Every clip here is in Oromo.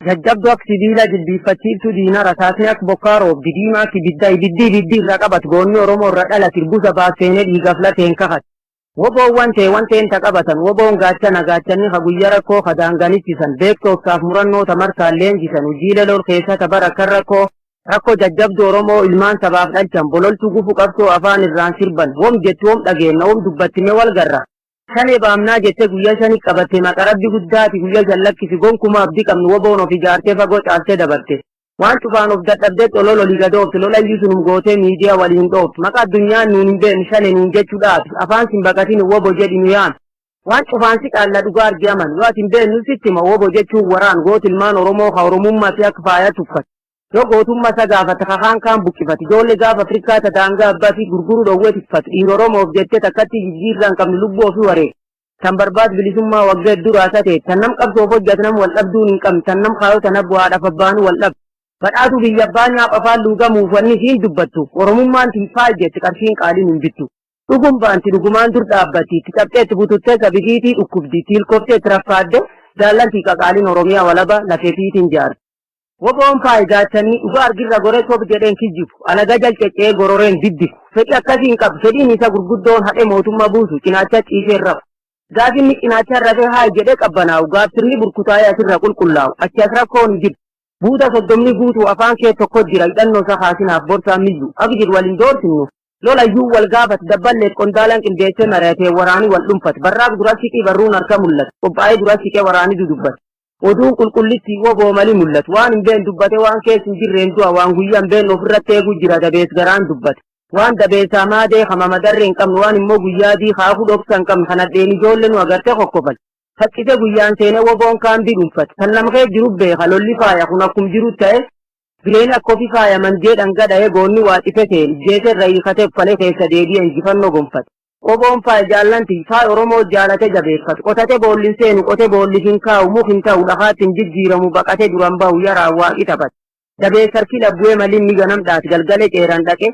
Jajjabduu ak sibiila jilbiiffachiiftuu diina rasaasni ak bokkaa roobdi diimaa ak ibiddaa ibiddi ibiddi irra qabat goonni oromoo irra dhalat irbusa baas seenee dhiigaf lateen kakat. Woboon wantee wanteen ta qabatan woboon gaachana gaachanni ka guyya rakkoo ka daangan ittisan beekto obsaaf murannoo ta markaan leenjisan hujiile lol keessa ta bara kan rakkoo rakko jajjabdu oromoo ilmaan sabaaf dhalchan bololtu gufu qabsoo afaan irraan sirban wom jettu wom dhageenna wom dubbatti me wal garra. Shanee baamnaa jette guyya shani qabatte maqa rabbi guddaati guyya shan lakkisi gonkuma abdi qabnu woboon of ijaarte fagoo caalte dabarte waan cufaan of dadhabde xolol oli gad oofte lolayyuu sunum goote miidiya wali hin dhooftu maqa addunyaan nuun hin beeknu shane nuun jechu dhaabi afaan sin baqatini wobo jedhi nu yaami waan cufaan si qaalla dhugaa argi aman yoo ati hin beeknu sitti hima wobo jechuun waraan gooti ilmaan oromoo ka oromummati akka faaya tuffate Yoo gootummaa isa gaafate kakaan kaan buqqifate ijoollee gaafa Afrikaa ta daangaa abbaa fi gurguruu dhowwee tikfate dhiira Oromoof jettee takkatti jijjiirraa hin qabne lubbuu ofii wareega. Tan barbaad bilisummaa waggaa hedduu raasaa ta'e tan nam qabsoof hojjate nam wal dhabduun hin qabne tan nam kaayoo tan abbu haadhaaf abbaanuu wal dhabde. Badhaatu biyya abbaa nyaap afaan luugamuuf wanni isiin dubbattu Oromummaan tin faal jette qarshiin qaaliin hin bittu. Dhugum baanti dhugumaan dur dhaabbatti itti cabxee itti bututtee sabidiitii dhukkubdi itti hilkoftee itti raffaadde jaallantii qaqaaliin Oromiyaa walaba lafeefiitiin jaarti. Woboon faayidaachanii dhugaa argirra gore sob jedheen kijjibu, alaga jal ceccee gororeen diddigu. Fedhi akkasii hin qabu. Fedhiin isa gurguddoon hadhe mootumma buusu, cinaacha ciiseen rafu. Gaaf inni cinaachaan rafee haayi jedhee qabbanaa'u, gaaf sirni burkutaa'ee asirra qulqullaa'u, achi as rakkoon hin jiru. Buuta soddomni guutuu afaan kee tokko jira, hidhannoo isa kaasinaaf borsaan miyyu. Abjir wal hin doorsinu. Lola iyyuu wal gaafat dabballeef qondaalaan qindeessee mari'atee waraani wal dhunfat barraaq dura siqii barruun harka mul'at qophaa'ee dura siqee waraani dudubbat oduun qulqullittii wbo mali mul'at waan hin been dubbate waan kees hin jirreen du'a waan guyyaa hin been ofirratti eeguu jira dabees garaan dubbat waan dabeesaa maadee kama madarree hin qabnu waan immoo guyyaa dii kaakuu dhoksa hin qabnu kan hadheen ijoollee nu agarte kokkofan faccise guyyaan seenee woboon kaambii dhunfat kan namkee jiru beeka lolli faaya kun akkum jiru ta'e Bileen akka ofi faaya mangee dhangaa dhahee goonni waa cife seen ijjeese irra hiikate uffale keessa deebi'e injifannoo gonfate. Qoboon faaya jaallan ti, faaya Oromoo jaalate jabeeffatu. Qotate boolli hin seenu, qote boolli hin kaa'u, muk hin ta'u, dhakaatti hin jijjiiramu, baqate duran bahu, yaraan Waaqi taphate. Dabeessa harki dhabbu'ee maliin ni ganam dhaate, galgale ceeraan dhaqe,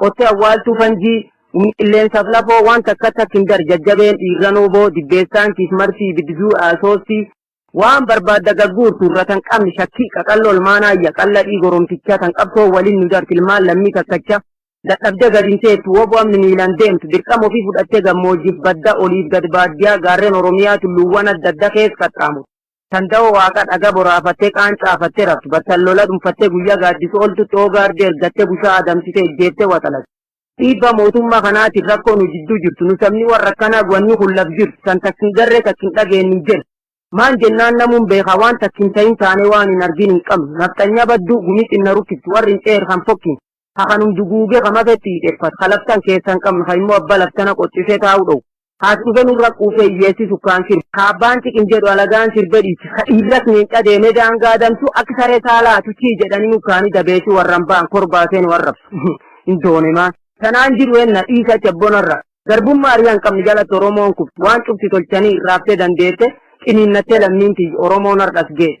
Qottee awwaaltuu fanjii, Humni qilleensaaf lafoo waan takka takk hin dar Jajjabeen dhiirran wbo, Dibbeessaan kiis martii Ibidduu soostii, Waan barbaadda gagguurtu irra tan qabn shakkii Qaqalloo ilmaan aayya qalladhii goromticha Tan qabsoon walin nu dart ilmaan lammii takkacha Dadhabde gad hin teettu wbo amn miilan deemtu Dirqama ofii fudhattee gammoojjif badda Oliif gad baaddiyaa gaarren Oromiyaa Tulluuwwan adda adda kees qaxxaamurte Tanda'oo Waaqa dhaga boraafattee qaancaafattee raftu, battal lola dhunfattee guyyaa gaaddisu oltutti hoo gaardii ergattee bushaa adamsite ejjeettee waxalatte. Dhiibbaa mootummaa kanaatiin rakkoo nu jidduu jirtu, nu sabni warra akkanaa guanni kun laf jirtu, tan takk hin garree takk hin dhageenne hin jirtu. Maan jennaan namuun beekaa waan takk hin tahin taanee waan hin argin hin qabnu. Nafxanyaa badduu, gumii xinna rukkiftu, warri hin ceer kan fokkin. ka kanum duguuge ka mafetti hiixeffatu, ka laftan keessa hin qabne, ka immoo abba laftana qoxxisee taa'uu dhowu, ka as dhufe nurra quufee hiyyeessi sukkaan sirbu, ka abbaan ciqim jedhu alagaan sirbe dhiiche, ka dhiirras leenca deemee daangaa adamsu, akka saree saalaa hatu chii jedhanii mukkaanii dabeessi warran ba'an korbaa seenu arrabsu. Hin doone maan. Tanaan jiru henna dhiisa achi abbona irraa. Garbummaa ari'a hin qabne jalatti Oromoon kufte. Waan cufti tolchanii irraabtee dandeette, ciniinnattee lammiin tiyya Oromoon har'as geesse.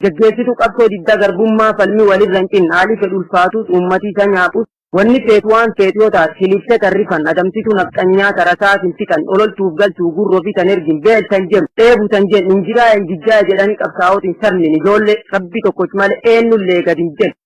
Gaggeessitu qabsoo diddaa garbummaa falmi walirra hin cinne haali fedhu ulfaatus uummati isa nyaaphus wanni feetu waan feetu yoo taatu kilifte tan rifan adamsitu nafxanyaa ta rasaasin fixan ololtuuf galtuu gurra ofii tan ergin beel tan jenu dheebu tan jenu injiraaya injijjaaya jedhani qabsaa'otin sabnin ijoollee rabbi tokkoch male eennullee gad hin jenu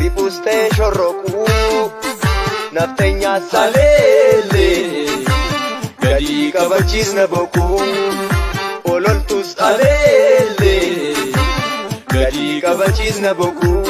Ribus ta'e shorrokuu nafxenyaa saleellee gadii kabachiisna bokuu ololtus aleellee gadii kabachiisna bokuu.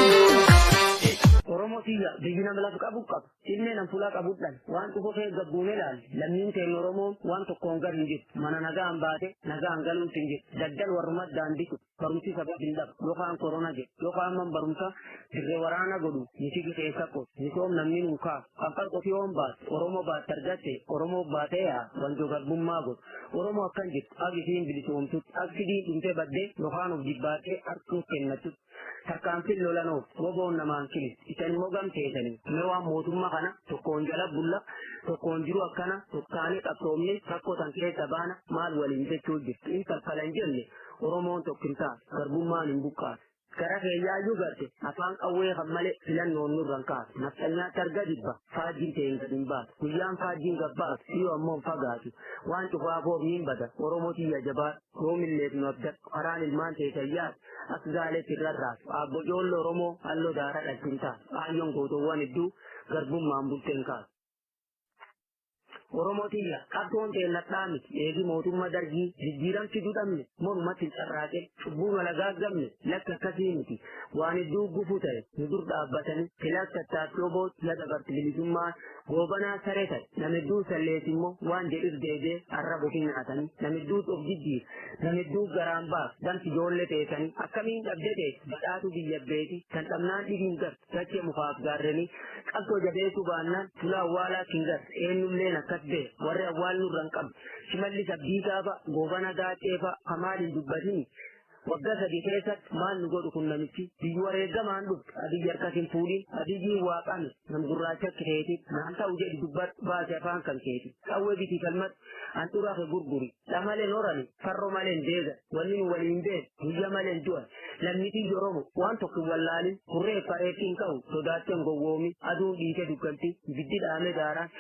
Oromoo tiyya biyyi nama lafa qabu qaba. Ilmee nan fulaa qabudhan waan dhufu kee gabbuun ilaali. Lammiin teen Oromoon waan tokkoon gar hin jiru. Mana nagaan baate nagaan galuutti hin jiru. Daddal warrumat daandii kutu. barumsi sabaa hin dhabu yookaan korona jedhu yookaan man barumsa dirree waraana godhu miti keessa ko misoom namni nuukaa qaqqal qotiyoon baate oromoo baate argatte oromoo baatee yaa wanto garbummaa godhu oromoo akkan jirtu agisiin bilisoomtutti agsidiin dhumtee baddee yookaan of dibbaattee harkuuf kennattu tarkaanfiin lolanoof roboon namaan kilis isan immoo gamteessanii mee waan mootummaa kana tokkoon jala bulla tokkoon jiru akkana tokkaanii qabsoomne rakkoo san keessa baana maal waliin jechuu jirtu in kaffalan jenne Oromoon tokkimtaa garbummaan hin buqqaatu. Gara keeyyaayyuu garte afaan qawwee kan malee filannoon nurra hin kaatu. Nafxanyaatti arga dibba faajjiin ta'een gad hin baatu. Guyyaan faajjiin gad baatu dhiyoo ammoo hin fagaatu. Waan cufaa boobni hin bada Oromoo tiyya jabaa yoomilleef nu abdadhu karaan ilmaan ta'e tayyaatu. As gaaleetti irra raasu abbo ijoollee Oromoo halloo daara dhalchintaa. Kaayyoon gootoowwan hedduu garbummaan bulteen kaasu. Oromoo tiyya qabsoon teennadhaa miti eegi mootummaa dargii jijjiiran fiduu dhabne mormatti carraaqe cubbuu mala gaaggamne lakki akkasii miti waan hedduu gufuu ta'e nu dur dhaabbatanii filaas tattaaffii oboo ya dabarti bilisummaa goobanaa saree ta'e nama hedduu sallees immoo waan jedhus deebi'ee har'a bofii nyaatanii nama hedduu of jijjiir nama hedduu garaan baaf damsi ijoollee teessanii akkamiin dhabde ta'e badhaatu biyya beeti kan dhabnaan dhibiin gar Dachee mukaaf gaarrenii. Qabsoo jabeessuu baannaan tula awwaalaa kingas eennulleen akkas bee warri awwaal nurra hin qabne shimallis abdiisaa fa goobana gaaccee fa ka maal hin dubbatini wagga sadi keessatti maal nu godhu kun namichi biyyu wareegamaan dhufte abiyyi harkas hin fuudhin abiyyiin waaqame nam gurraacha keetiin naan ta'u jedhi dubbadhu baasi afaan kan keeti qawwee biti falmad handhuraa kee gurguri dha malee norani farro malee hin deega wanni nu waliin hin beeku guyya malee hin du'an lammitii joromo waan tokko hin wallaalin kurree fareetti hin qabu sodaattee hin gowwoomi aduun dhiite dugganti ibiddi dhaame daaraan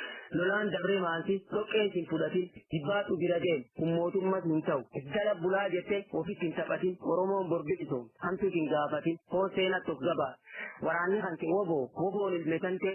lolaan dabree maansi dhoqqeen sin fudhatin jibbaatu bira deem kun mootummas hin ta'u gala bulaa jettee ofitti hin taphatin oromoon borbiqisoom hamtuus hin gaafatin foon seenatti of gabaa waraanni kan kee woboo woboon ilmesantee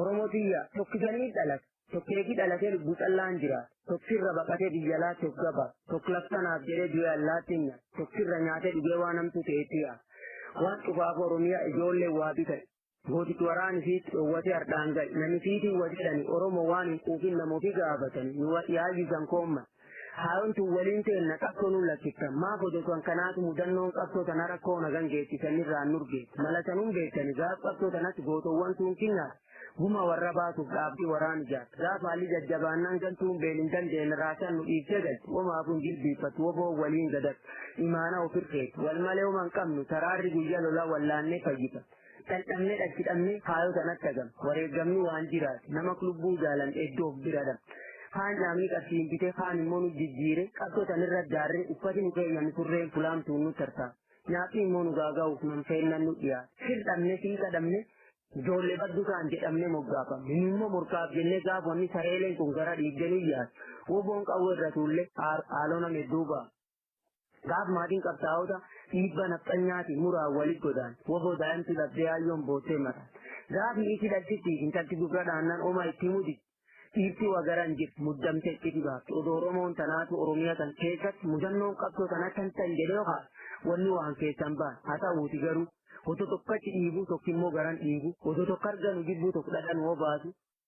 Oromoo tiyya tokkisanii dhalate tokkeetii dhalatee lubbuu callaan jira tokkirra baqatee biyya laa tokkaba tokklaftanaaf jedhee du'e allaattiin nya tokkirra nyaatee dhugee waan hamtuu ta'eetiya waan cufaaf oromiyaa ijoollee waa bitan gootichi waraani fiitti dhoowwatee hardhaan ga'e nami fiitiin wa jedhani oromoo waan hin quufin nama ofii gaafatani nu yaayyisan koomman Haayoon tun waliin teenna qabsoo nuun lakkifta. Maaf odotuan kanaatu mudannoon qabsoo tana rakkoo nagan geetti san irraan nurge. Mala sanuun beektani gaaf qabsoo tanatti gootowwan tuun kinnaas guma warra baasuuf dhaabdi waraan ijaarta. Gaaf haalli jajjabaannaan gantuun beel hin dandeenna raasan nu dhiiftee galti. Homaafuu hin jilbiiffattu woboo waliin gadattu. Imaana ofirkeetti. Wal malee homa hin qabnu taraarri guyya lola wallaannee fayyita. Dhandhamne dhachi dhabne faayoo sanatti hagam. Wareegamni waan jiraate nama lubbuu jaalan iddoo of bira dhabne. Kaan dhaabni qarshiin bite kaan immoo nu jijjiire qabsoo sanirra daarre uffati nu keeyyame surreen fulaamtuun nu tartaa. Nyaaphi immoo nu gaaga'uuf nan feennan nu dhiyaate. Sir dhabne siiqa dhabne Ijoollee baddu kaan jedhamne moggaafamne. Inni immoo morkaaf jennee gaafa inni sareeleen kun gara dhiigganii yaadu. Woboon qawwee irra tuulle haaloo nama hedduu ba'a. Gaaf maatiin qabsaa'ota dhiibba nafxanyaatiin muraan walit godaan waboo daa'imti dhabdee yaayyoon boottee mataan. Gaaf niiti dhaltittiif intalti gurra dhaannaan oma itti mudi dhiirti wagaran jirti muddamte itti dhibaafte odoo Oromoon tanaatu Oromiyaa tan keessatti mudannoon qabsoo tan akkan tan jedhee kaa wanni waan keessan baan haa ta'uuti garuu otoo tokkotti dhiibu tokko immoo garan dhiibu otoo tokko arganu jibbuu tokko dhadhan hoo baasu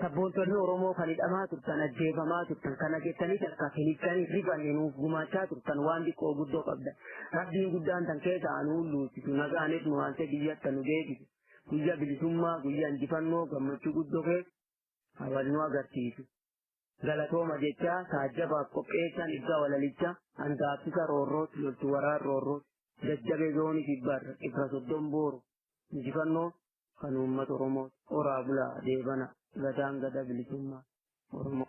Sabboontonni Oromoo kan hidhamaa turtan, ajjeefamaa turtan, kana jettanii takka finittanii rifanne nuuf gumaachaa turtan waan xiqqoo guddoo qabda. Rabbiin guddaan tan keessa anu hulluusisu, nagaanis nu haaltee biyyatta nu deebisu. Guyyaa bilisummaa, guyyaa injifannoo, gammachuu guddoo keessa hawaasni nu agarsiisu. galatooma jechaa taajjabaaf qopheessaan ibsaa walalicha handaaffisa roorrooti loltu waraan roorrooti jajjabee zoonii kibbaarra dhibba soddon booru injifannoo kan uummata oromoo horaa bulaa deebana gadaan gada bilisummaa oromoo.